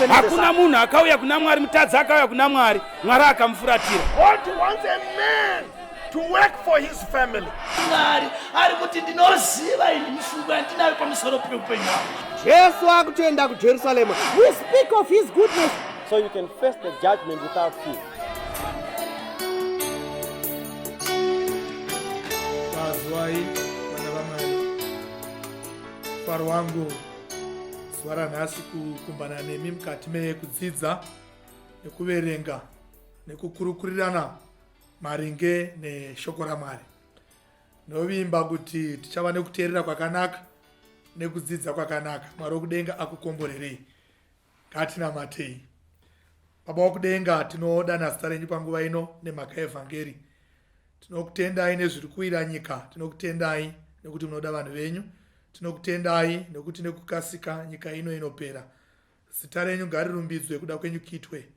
Hakuna munhu akauya kuna Mwari, mutadzi akauya kuna Mwari, Mwari akamufuratira. To work for his family. Mwari ari kuti ndinoziva ini mifungo yandinayo pamusoro peupenyu hwangu. Jesu akutoenda kuJerusalema. We speak of his goodness. So you can face the judgment without fear. That's why. faro wangu zuva ranhasi kukumbana nemi mukati mekudzidza nekuverenga nekukurukurirana maringe neshoko ramwari ndovimba kuti tichava nekuteerera kwakanaka nekudzidza kwakanaka mwari wekudenga akukomborerei Ngatinamatei. Baba wokudenga, tinodana zita renyu panguva ino nemhaka yeevhangeri. Tinokutendai nezviri kuwira nyika, tinokutendai nekuti munoda vanhu venyu, tinokutendai nekuti nekukasika nyika ino inopera. Zita renyu ngarirumbidzwe kuda kwenyu kitwe.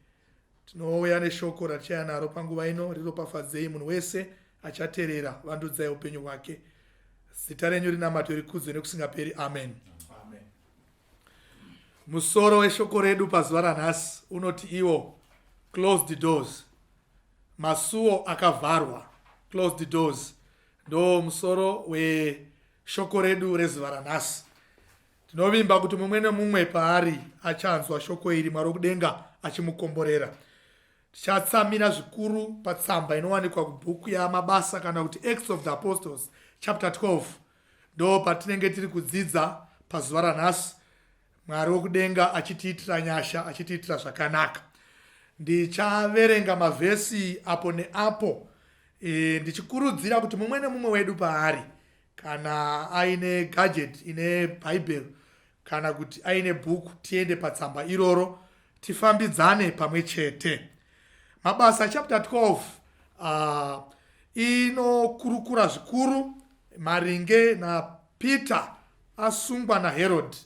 Tinouya neshoko ratichaya naro panguva ino riropafadzei munhu wese achaterera vandudzai upenyu hwake. Zita renyu rinamatwe rikudzwe nekusingaperi. Amen. Amen. Musoro weshoko redu pazuva ranhasi unoti iwo closed doors, masuwo akavharwa. Closed doors ndo musoro weshoko redu rezuva ranhasi. Tinovimba kuti mumwe nemumwe paari achanzwa shoko iri Mwari wokudenga achimukomborera. Tichatsamira zvikuru patsamba inowanikwa kubhuku yaMabasa kana kuti Acts of the Apostles chapter 12 Ndoo patinenge tiri kudzidza pazuva ranhasi mwari wokudenga achitiitira nyasha achitiitira zvakanaka ndichaverenga mavhesi apo neapo e, ndichikurudzira kuti mumwe nemumwe wedu paari kana aine gadget ine bhaibheri kana kuti aine bhuku tiende patsamba iroro tifambidzane pamwe chete mabasa chapter 12 uh, ah, inokurukura zvikuru maringe napeter asungwa naherodi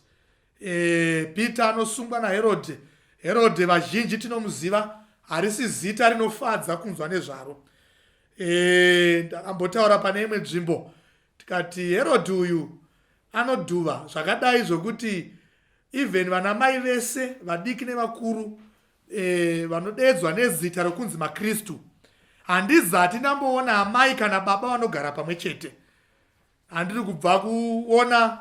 e, peter anosungwa naherodi herodi vazhinji tinomuziva harisi zita rinofadza kunzwa nezvaro e, ndakambotaura pane imwe nzvimbo Tikati Herod uyu anodhuva zvakadai zvokuti even vana mai vese vadiki nevakuru eh, vanodeedzwa nezita rokunzi makristu handizati ndamboona amai kana baba vanogara pamwe chete handiri kubva kuona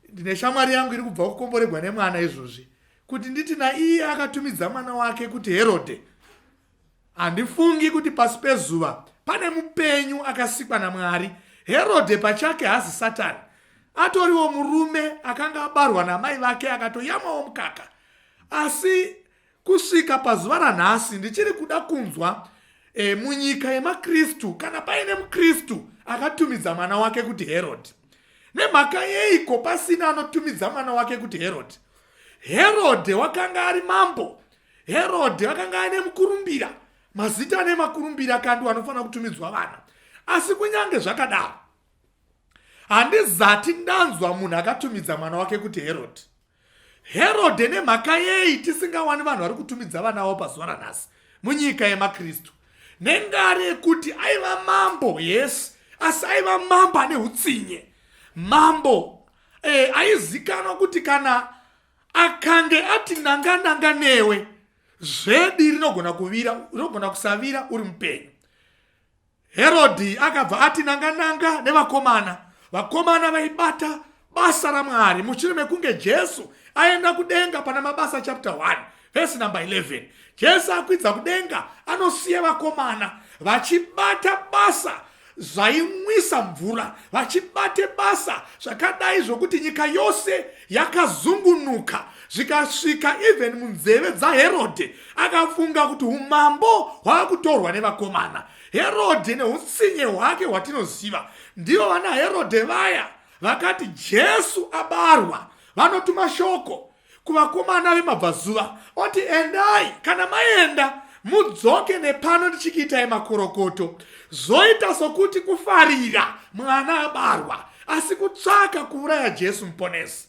ndine shamwari yangu iri kubva kukomboregwa nemwana izvozvi kuti nditi naiye akatumidza mwana wake kuti herode handifungi kuti pasi pezuva pane mupenyu akasikwa namwari herode pachake hazi satani atoriwo murume akanga abarwa namai vake akatoyamawo mukaka asi Kusvika pazuva ranhasi ndichiri kuda kunzwa e, munyika yemaKristu kana paine muKristu akatumidza mwana wake kuti Herodhi. Nemhaka yeiko pasina anotumidza mwana wake kuti Herodhi? Herodhi wakanga ari mambo. Herodhi wakanga aine mukurumbira, mazita ane makurumbira kandiwo anofanira kutumidzwa vana. Asi kunyange zvakadaro, handizati ndanzwa munhu akatumidza mwana wake kuti Herodhi. Herode nemhaka yei tisingawani vanhu vari kutumidza vana vavo pazuva ranhasi munyika yemaKristu? Nengari yekuti aiva mambo, yes, asi aiva mambo ane utsinye. Mambo eh, aizikanwa kuti kana akange ati nanga nanga newe zvedi rinogona kuvira rinogona kusavira uri mupenyu Herodhi akabva ati nanga-nanga nevakomana. Vakomana vaibata basa raMwari mushure mekunge Jesu aenda kudenga pana Mabasa chapter 1 vhesi number 11 jesu akwidza kudenga anosiya vakomana vachibata basa zvainwisa mvura vachibate basa zvakadai zvokuti nyika yose yakazungunuka zvikasvika even munzeve dzaherodhe akafunga kuti umambo hwava kutorwa nevakomana herodhe neutsinye hwake hwatinoziva ndivo vana herodhe vaya vakati jesu abarwa vanotuma shoko kuvakomana vemabvazuva oti endai kana maenda mudzoke nepano ndichikiitai makorokoto zvoita sokuti kufarira mwana abarwa asi kutsvaka kuuraya jesu muponesi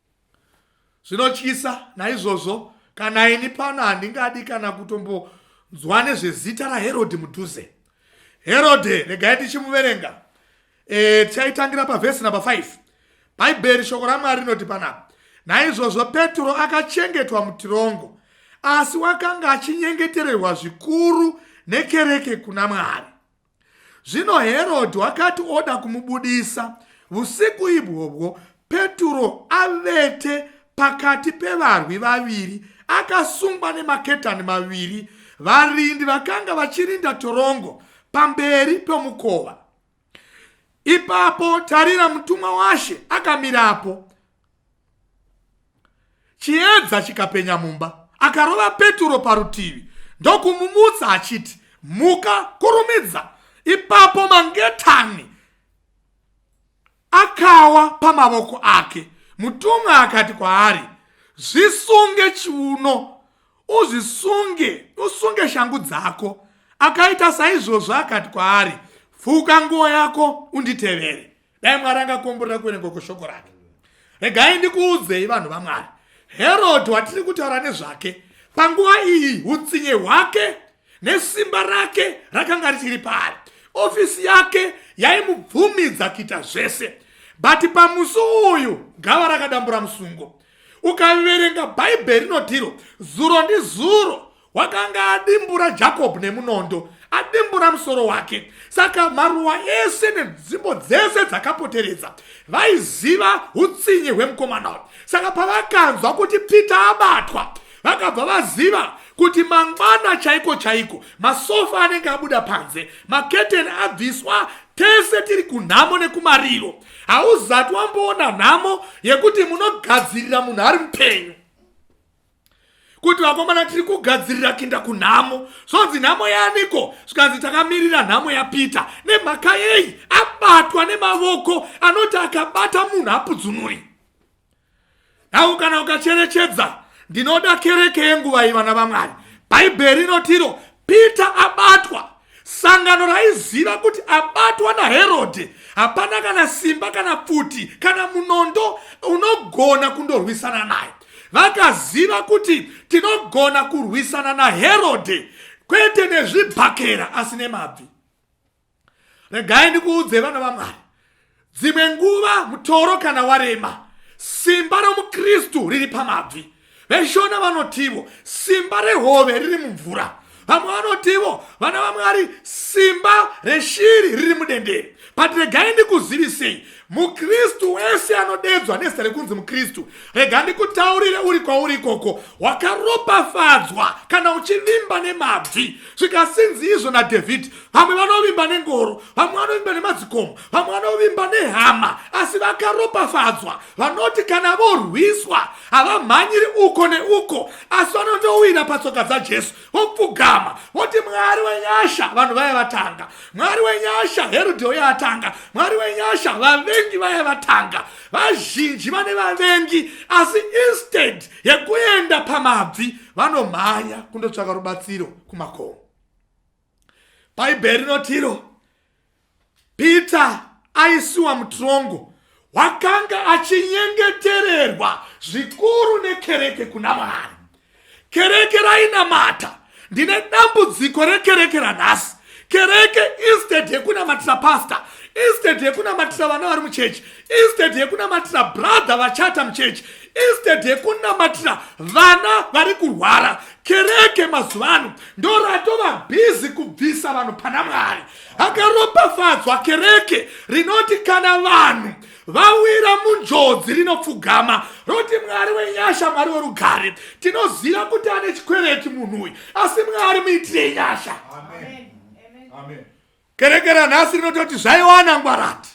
Zvinotyisa naizvozvo kana ini pano handingadi kana kutombonzwa nezvezita raherodhi mudhuze herodhi regai tichimuverenga e, tichaitangira pavhesi namba 5 bhaibheri shoko ramwari rinoti panapa naizvozvo petro akachengetwa mutirongo asi wakanga achinyengetererwa zvikuru nekereke kuna mwari Zvino Herodhi wakati oda kumubudisa vusiku ibwobwo, Peturo avete pakati pevarwi vaviri, akasungwa nemaketani maviri, varindi vakanga vachirinda torongo pamberi pemukova. Ipapo tarira, mutumwa washe akamirapo, chiedza chikapenya mumba akarova peturo parutivi ndokumumutsa achiti muka kurumidza ipapo mangetani akawa pamavoko ake mutumwa akati kwaari zvisunge chiuno uzvisunge usunge shangu dzako akaita saizvozvo akati kwaari fuka nguo yako unditevere dai mwari angakomborera kuverengwa kweshoko rake regai ndikuudzei vanhu vamwari herodhi watiri kutaura nezvake panguva iyi utsinye hwake nesimba rake rakanga richiri paari ofisi yake yaimubvumidza kuita zvese but pamusi uyu gava rakadambura musungo ukaverenga bhaibheri rinotiro zuro ndizuro wakanga adimbura jacob nemunondo adimbura musoro wake saka maruwa ese nenzvimbo dzese dzakapoteredza vaiziva utsinye hwemukomana uyu saka pavakanzwa kuti peter abatwa vakabva vaziva kuti mangwana chaiko chaiko masofa anenge abuda panze maketeni abviswa tese tiri kunhamo nekumariro hauzati wamboona nhamo yekuti munogadzirira munhu ari mupenyu kuti vakomana tiri kugadzirira kinda kunhamo zvonzi nhamo yaniko zvikanzi takamirira nhamo yapita nemhaka yei abatwa nemavoko anoti akabata munhu apudzunuri nhau kana ukacherechedza ndinoda kereke yenguva ivana vamwari bhaibheri inotiro pita abatwa Sangano raiziva kuti abatwa naHerodhe hapana kana simba kana pfuti kana munondo unogona kundorwisana naye. Vakaziva kuti tinogona kurwisana naHerodhe kwete nezvibhakera asi nemabvi. Regai ndikuudze vana vaMwari, Dzimwe nguva mutoro kana warema, simba romuKristu riri pamabvi. VeShona vanotivo simba rehove riri mumvura. Vamwe vanotivo vana vaMwari simba reshiri riri mudendere. But regai ndikuzivisei, mukristu wese anodedzwa nezita rekunzi mukristu rega ndikutaurire uri kwauri ikoko wakaropafadzwa kana uchivimba nemabvi zvikasinzi izvo nadhavhidhi vamwe vanovimba nengoro vamwe vanovimba nemadzikomo vamwe vanovimba nehama asi vakaropafadzwa vanoti kana vorwiswa havamhanyiri uko neuko asi vanondowira patsoka dzajesu vopfugama voti mwari wenyasha vanhu vaya vatanga mwari wenyasha herudhi uya atanga mwari wenyasha vavengi vaya vatanga vazhinji vane vavengi asi instead yekuenda pamabvi vanomhanya kundotsvaka rubatsiro kumakomo bhaibheri rinotiro peter aisiwa mutrongo wakanga achinyengetererwa zvikuru nekereke kuna mwari kereke rainamata ndine dambudziko rekereke ranhasi kereke instead yekunamatira pasta instead yekunamatira vana vari muchechi instead yekunamatira brother vachata muchechi instead yekunamatira vana vari kurwara kereke mazuva ano ndoratova bhizi kubvisa vanhu pana mwari akaropafadzwa kereke rinoti kana vanhu vawira munjodzi rinopfugama roti mwari wenyasha mwari werugare tinoziva kuti ane chikwereti munhu uyu asi mwari muitire nyasha Amen. Amen. Amen. Kereke ranhasi rinototi zvaiwana ngwarati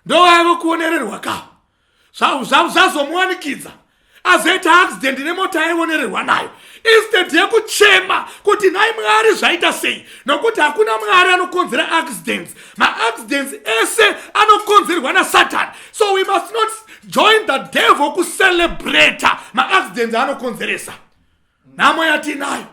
ndovaive kuonererwa ka zvazomuwanikidza azoita accident nemota yaionererwa nayo instead yekuchema kuti nhai mwari zvaita sei nokuti hakuna mwari anokonzera accidents maaccidents ese anokonzerwa nasatani so we must not join the devil kucelebrata maaccidents anokonzeresa nhamo yatinayo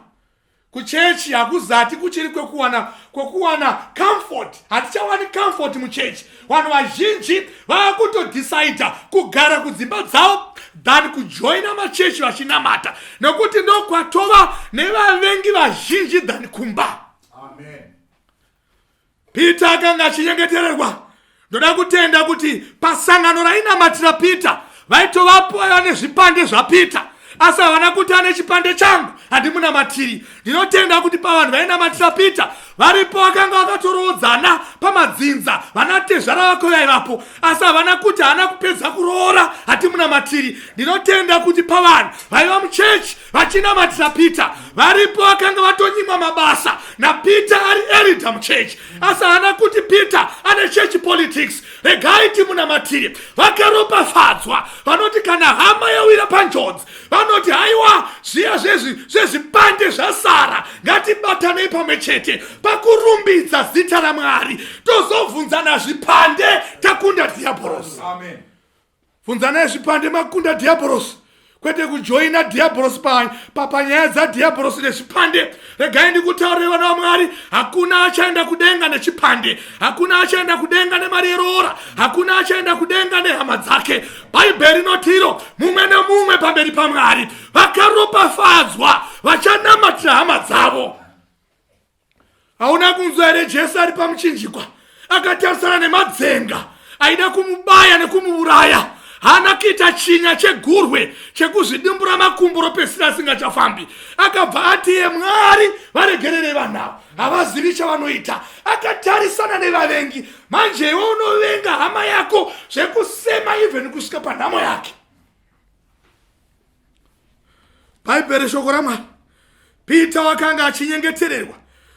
kuchechi hakuzati kuchiri kwekuwana kwekuwana comfort hatichawani comfort muchechi vanhu vazhinji vava kutodhisaidha kugara kudzimba dzavo than kujoina machechi vachinamata nokuti ndokwatova nevavengi vazhinji than kumba Amen. Peter akanga achinyengetererwa. Ndoda kutenda kuti pasangano rainamatira Peter vaitovapo vaiva nezvipande zvaPeter asi havana kuti ane chipande changu handimunamatiri. Ndinotenda kuti pavanhu vainamatira Peter varipo vakanga vakatoroodzana pamadzinza vana tezvara vako vaivapo asi havana kuti haana kupedza kuroora hatimunamatiri. Ndinotenda kuti pavanhu vaiva muchechi vachinamatira peter varipo vakanga vatonyimwa mabasa napeter ari erida muchechi asi haana kuti peter ane chechi politics regai timunamatire vakaropafadzwa vanoti kana hama yawira panjodzi vanoti haiwa zviya zvezvi zvezvipande zvasara ngatibatanei pamwe chete pakurumbidza zita ramwari tozobvunzana zvipande takunda dhiabhorosi vhunzanai zvipande makunda dhiabhorosi kwete kujoina dhiabhorosi papanyaya dzadhiabhorosi nezvipande regai ndikutaurire vana vamwari hakuna achaenda kudenga nechipande hakuna achaenda kudenga nemari yeroora hakuna achaenda kudenga nehama dzake bhaibheri rinotiro mumwe nemumwe pamberi pamwari vakaropafadzwa vachanamatira hama dzavo hauna kunzwa here jesu ari pamuchinjikwa akatarisana nemadzenga aida kumubaya nekumuuraya haana kuita chinya chegurwe chekuzvidimbura makumbo ropesira asingachafambi akabva ati ye mwari varegerere vanhu avo havazivi chavanoita akatarisana nevavengi manje iwe unovenga hama yako zvekusema even kusvika panhamo yake bhaibheri shoko ramwari pita wakanga achinyengetererwa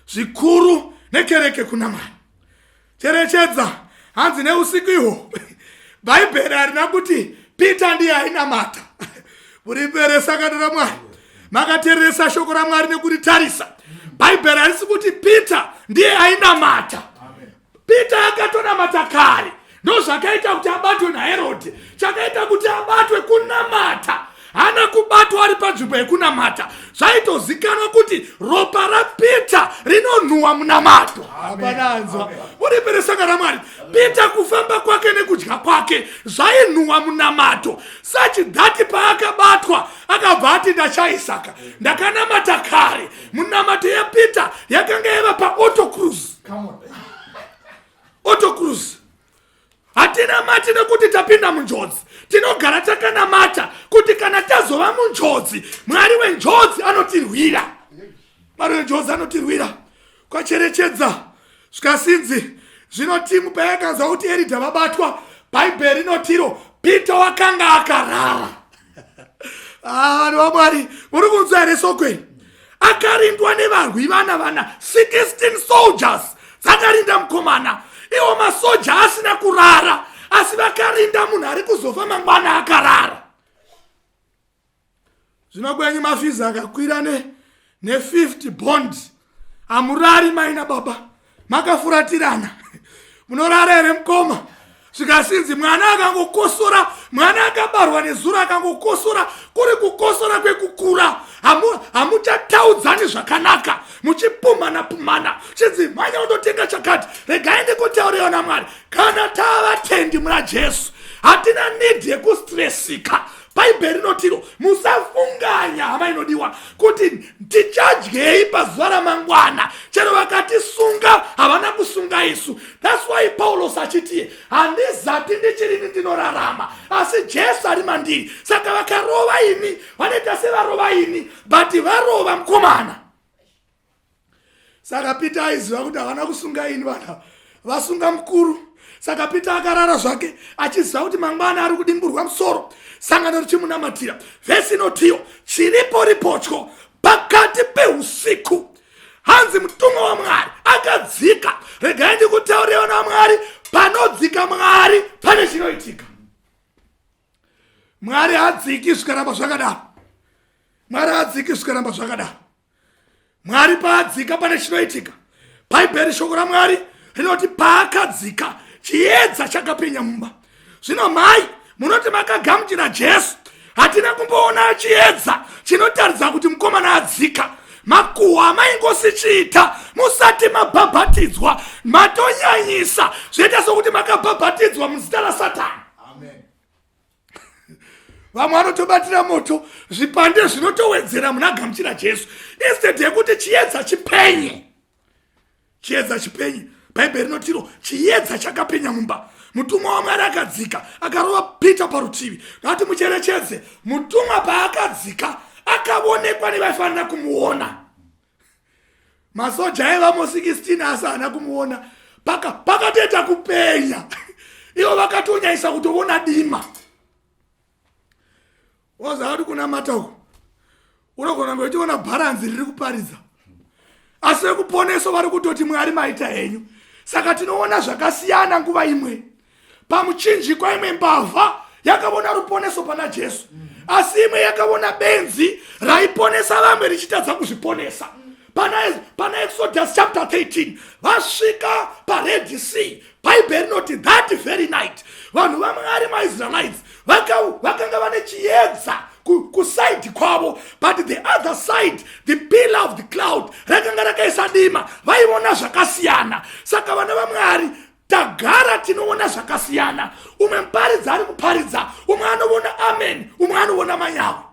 zvikuru nekereke kuna mwari cherechedza hanzi neusiku ihwo bhaibheri harina kuti pita ndiye ainamata murimberesa kana ramwari makatereresa shoko ramwari nekuritarisa bhaibheri harisi kuti pita ndiye ainamata peter akatonamata kare ndozvakaita kuti abatwe naherode chakaita kuti abatwe kunamata hana kubatwa ari panzvimbo yekunamata zvaitozikanwa kuti ropa rapeter rinonhuwa munamato hapananzwa uripere saka ramwari peter kufamba kwake nekudya kwake zvainhuwa munamato sachidhati paakabatwa akabva ati ndachaisaka ndakanamata kare munamato yepeter yakanga yava paotocruse autocruz hatina mati nekuti tapinda munjodzi tinogara takanamata kuti kana tazova munjodzi mwari wenjodzi anotirwira mwari wenjodzi anotirwira kwacherechedza zvikasinzi zvino timu payakanzwa kuti eridha vabatwa bhaibheri rinotiro pita wakanga akarara ah, vanhu vamwari muri kunzwa here sokweni akarindwa nevarwi vana vana 16 soldiers dzakarinda mukomana iwo masoja asina kurara asi vakarinda munhu ari kuzofa mangwana akarara zvino kwenyu mafizi akakwira ne nefifty bond hamurari maina baba makafuratirana munorara here mukoma zvikasinzi mwana akangokosora mwana akabarwa nezuro akangokosora kuri kukosora kwekukura hamuchataudzani zvakanaka muchipumhana pumhana chinzi mhanya undotenga chakati regai ndikutauriwa namwari kana tavatendi muna jesu hatina nidhi yekustresika bhaibheri rinotiro musafunganya hama inodiwa kuti tichadyei pazuva ramangwana chero vakatisunga havana kusunga isu thats why paulos achitiye handizati ndichirini ndinorarama asi jesu ari mandiri saka vakarova ini vanoita sevarova ini but varova mukomana saka peter aiziva kuti havana kusunga ini vana vasunga mukuru saka peter akarara zvake achiziva kuti mangwana ari kudimburwa musoro sangano richimunamatira vhesi inotiyo chiripo ripotyo pakati peusiku hanzi mutumwa wamwari akadzika regai ndikutaurirewo namwari panodzika mwari pane chinoitika mwari hadziki zvikaramba zvakadaro mwari hadziki zvikaramba zvakadaro mwari paadzika pane chinoitika bhaibheri shoko ramwari rinoti paakadzika chiedza chakapenya mumba zvino mhai munoti makagamuchira jesu hatina kumboona chiedza chinotaridza kuti mukomana adzika makuhwa amaingosichiita musati mabhabhatidzwa matonyanyisa zvoita sokuti makabhabhatidzwa muzita rasatani vamwe vanotobatira moto zvipande zvinotowedzera muna gamuchira jesu instead yekuti chiedza chipenye chiedza chipenye bhaibheri rinotiro chiedza chakapenya mumba mutumwa wamwari akadzika akarova pita parutivi ngati mucherechedze mutumwa paakadzika akavonekwa nevaifanira kumuona masoja aivamo 16 asi haana kumuona paka pakatoita kupenya ivo vakatonyaisa kutovona dima wazava kuti kunamata uku unogona kunge uchiona bharanzi riri kuparidza asi vekuponeso vari kutoti mwari maita henyu saka tinoona zvakasiyana nguva imwe pamuchinjikwa imwe mbavha yakavona ruponeso pana jesu asi imwe yakavona benzi raiponesa vamwe richitadza kuzviponesa pana, pana exodus chapter 13 vasvika pared sea bhaibheri rinoti that very night vanhu vamwari maisraelites vakanga vane chiedza kuside kwavo but the other side the pillar of the cloud rakanga rakaisa dima vaivona zvakasiyana saka vana vamwari tagara tinoona zvakasiyana umwe muparidzi ari kuparidza umwe anovona amen umwe anovona manyawa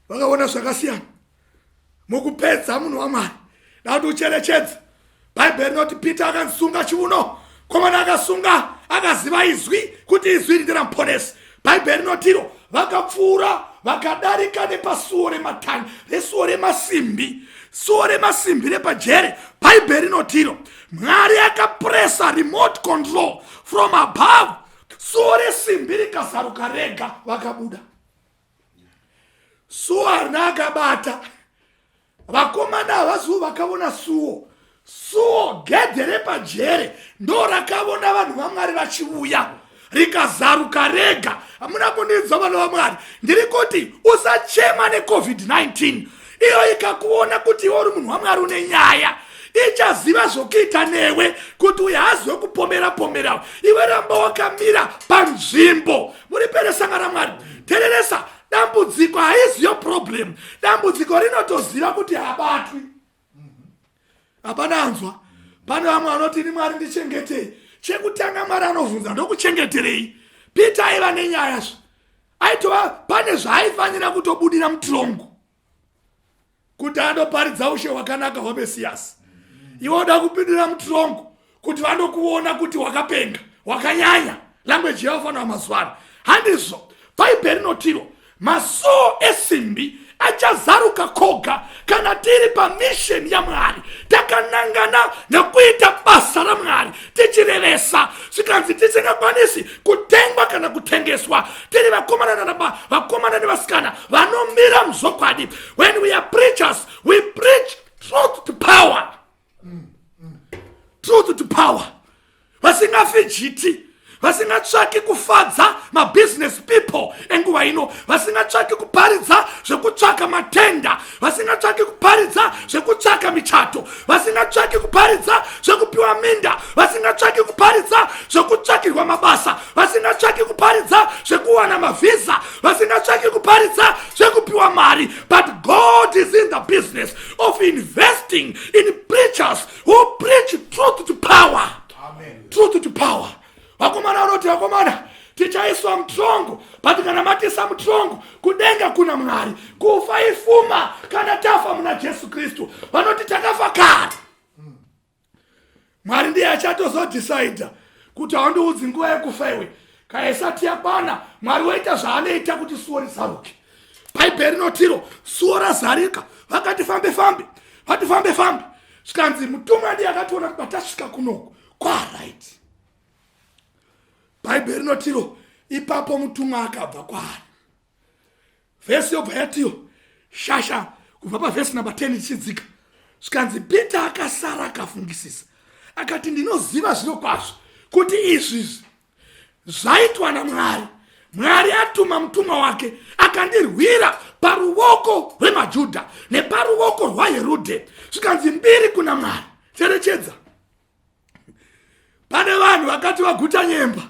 vakaona zvakasiyana mukupedza munhu wamwari ndauti ucherechedza bhaibheri rinoti peter akasunga chiuno komana akasunga akaziva izwi kuti izwi iri nderamuponesi bhaibheri rinotiro vakapfuura vakadarika nepasuo rematani resuo remasimbi suo remasimbi repajere bhaibheri rinotiro mwari akapresa remote control from above suo resimbi rikazaruka rega vakabuda suo harina akabata vakomana havaziwo vakavona suwo suwo gedhe repajere ndo rakavona vanhu vamwari vachivuya rikazaruka rega hamuna kundinzwa vana vamwari ndiri kuti usachema necovid-19 iyo ikakuona kuti iwe uri munhu wamwari une nyaya ichaziva zvokuita newe kuti uye haziwe kupomera pomerawo iwe ramba wakamira panzvimbo muriperesanga ramwari tereresa dambudziko haizi yo problem dambudziko rinotoziva kuti habatwi hapana anzwa pane vamwe vanoti ini mwari ndichengetei chekutanga mwari anobvunza ndokuchengeterei peter aiva nenyaya zve aitova pane zvaaifanira kutobudira mutirongo kuti anoparidza ushe hwakanaka hwamesiyasi iwe uda kupindira mutirongo kuti vanokuona kuti wakapenga wakanyanya language yavo fanira mazuva ano handizvo bhaibheri rinotiro masoo esimbi achazaruka koga kana tiri pamisheni yamwari takanangana nekuita basa ramwari tichirevesa zvikanzi tisingakwanisi kutengwa kana kutengeswa tiri vakomana nanaba vakomana nevasikana vanomira muzvokwadi when we are preachers we preach truth to power truth to power vasingafi jiti vasingatsvaki kufadza mabusiness people enguva ino vasingatsvaki kuparidza zvekutsvaka matenda vasingatsvaki kuparidza zvekutsvaka michato vasingatsvaki kuparidza zvekupiwa minda vasingatsvaki kuparidza zvekutsvakirwa mabasa vasingatsvaki kuparidza zvekuwana mavhiza vasingatsvaki kuparidza zvekupiwa mari but god is in the business of investing in preachers who preach truth to power Amen. truth to power vakomana vanoti vakomana tichaiswa mutrongo but kana matisa mutrongo kudenga kuna mwari kufa ifuma kana tafa muna jesu kristu vanoti takafa kare mwari ndiye achatozodhisaidha kuti haundiudzi nguva yekufa iwe kana isati yakwana mwari woita zvaanoita kuti suwo risaruke bhaibheri rinotiro suwo razarika vakati fambe fambe vati fambe fambe zvikanzi mutumwa ndiye akationa kuti patasvika kunoku kwarit bhaibheri rinotiro ipapo mutumwa akabva kwaari vhesi yobva yatiyo shasha kubva pavhesi number 10 ichidzika zvikanzi peter akasara akafungisisa akati ndinoziva zvino kwazvo kuti izvi izvi zvaitwa namwari mwari atuma mutumwa wake akandirwira paruvoko rwemajudha neparuvoko rwaherodhe zvikanzi mbiri kuna mwari cherechedza pane vanhu vakati vaguta nyemba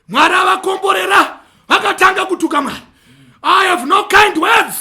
mwari avakomborera vakatanga kutuka mwari i have no kind words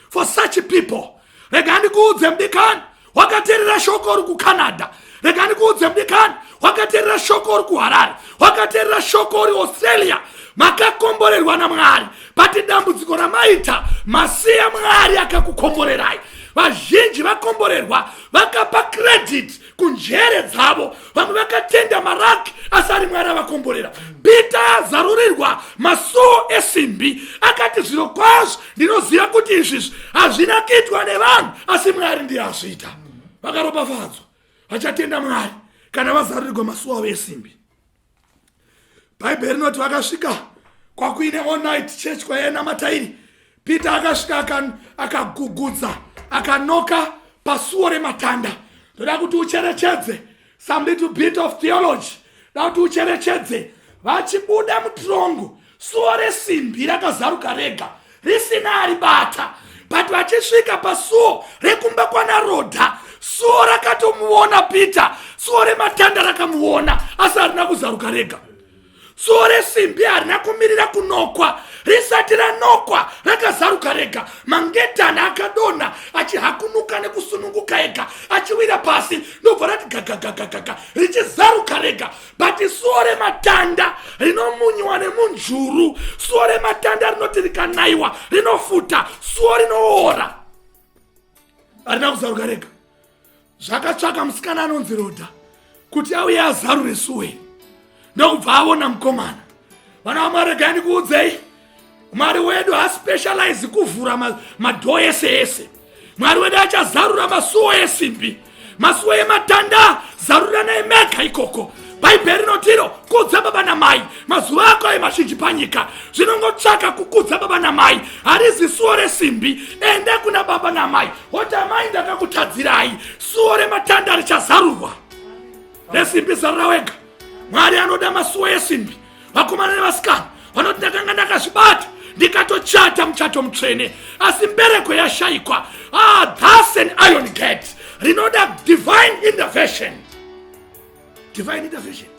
for such people rega ndikuudze mdikani wakaterera shoko uri kucanada rega ndikuudze mdikani wakaterera shoko uri kuharare wakaterera shoko uri australia makakomborerwa namwari pati dambudziko ramaita masiya mwari akakukomborerai vazhinji vakomborerwa vakapa credit kunjere dzavo vamwe vakatenda maraki asi ari mwari avakomborera bita azarurirwa masuo esimbi akati zviro kwazvo ndinoziva kuti izvizvi hazvina kuitwa nevanhu asi mwari ndiye azviita vakaropafadzwa vachatenda mwari kana vazarurirwa masuo avo esimbi bhaibheri rinoti vakasvika kwakuine onit church kwaiena matairi peter akasvika akagugudza aka akanoka pasuo rematanda ndoda kuti ucherechedze some little bit of theology da kuti ucherechedze vachibuda mutirongo suo resimbi rakazaruka rega risina aribata but vachisvika pasuo rekumba kwana rodha suo rakatomuona peter suo rematanda rakamuona asi harina kuzaruka rega suo resimbi harina kumirira kunokwa risati ranokwa rakazaruka rega mangetana akadonha achihakunuka nekusununguka ega achiwira pasi ndobva rati gagagagagaga richizaruka rega but suo rematanda rinomunyiwa nemunzvuru suo rematanda rinoti rikanaiwa rinofuta suo rinoora arina kuzaruka rega zvakatsvaka musikana anonzi roda kuti auye azarure suo iri ndokubva avona mukomana vana vamwari regai ndikuudzei mwari wedu haspecialize kuvhura madhoo ese ese mwari wedu achazarura masuwo esimbi masuwo ematanda zaruranai mega ikoko bhaibheri rinotiro kudza baba namai mazuva ako ayo mazhinji panyika zvinongotsvaka kukudza baba namai harizi suwo resimbi ende kuna baba namai hoti amai ndakakutadzirai suwo rematanda richazarurwa resimbi zarura wega mwari anoda masuwa esimbi vakomana nevasikana vanoti ndakanga ndakazvibata ndikatochata muchato mutsvene asi mbereko yashaikwa ah, thus an iron gate rinoda divine intervention divine intervention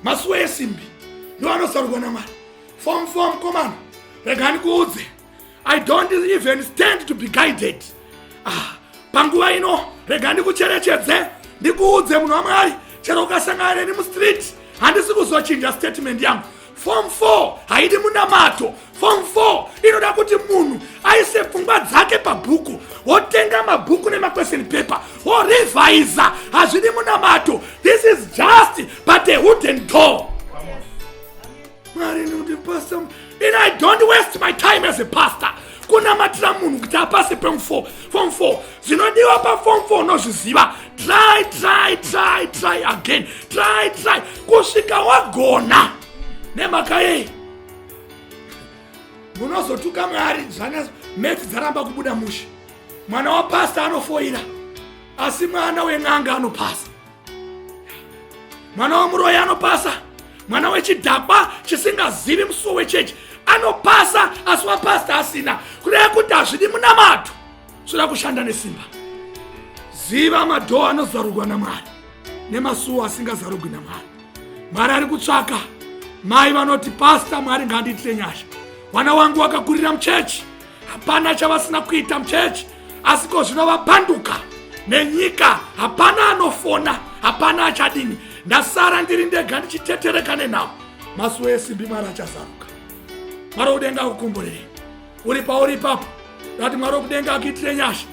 masuwa esimbi ndiwo anosarurwa namwari fom fom komana regani kuudze i don't even stand to be guided ah, panguva ino rega ndikucherechedze ndikuudze munhu wamwari chero ukasangana neni mustreet handisi kuzochinja statement yangu fom 4 haidi munamato fom 4 inoda kuti munhu aise pfungwa dzake pabhuku wotenga mabhuku nemaquestion paper worevhaiza hazvidi munamato this is just but a wooden door mwari nekuti pastor and i don't waste my time as a pastor kunamatira munhu kuti apase pefom fom four zvinodiwa pafom four unozviziva try try try try again try try kusvika wagona nemhaka yei munozotuka mwari zvana meti dzaramba kubuda mushe mwana wapasta anofoira asi mwana wen'anga anopasa mwana wemuroyi anopasa mwana wechidhakwa chisingazivi musuwo wechechi anopasa asi wapasta asina kureva kuti hazvidi munamato zvoda kushanda nesimba ziva madhoo anozarurwa namwari nemasuwo asingazarugwi namwari mwari ari kutsvaka mai vanoti pasta mwari ngaandiitire nyasha mwana wangu wakakurira muchechi hapana chavasina kuita muchechi asi ko zvino vapanduka nenyika hapana anofona hapana achadini ndasara ndiri ndega ndichitetereka nenhau masuwo esimbi mwari achazaruka mwari wokudenga akukomborerei uri pauri ipapo ndati mwari wokudenga akuitire nyasha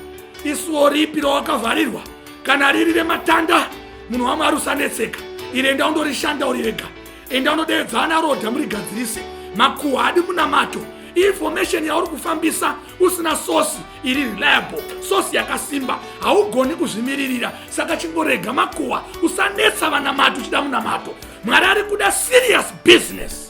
isuwo ripi rawakavharirwa kana riri rematanda munhu wamwari usanetseka iri enda undorishanda uri rega enda unodeedza ana roda murigadzirise makuhwa adi munamato information yauri kufambisa usina sosi iri reliable sosi yakasimba haugoni kuzvimiririra saka chingorega makuhwa usanetsa vanamati uchida munamato mwari ari kuda serious business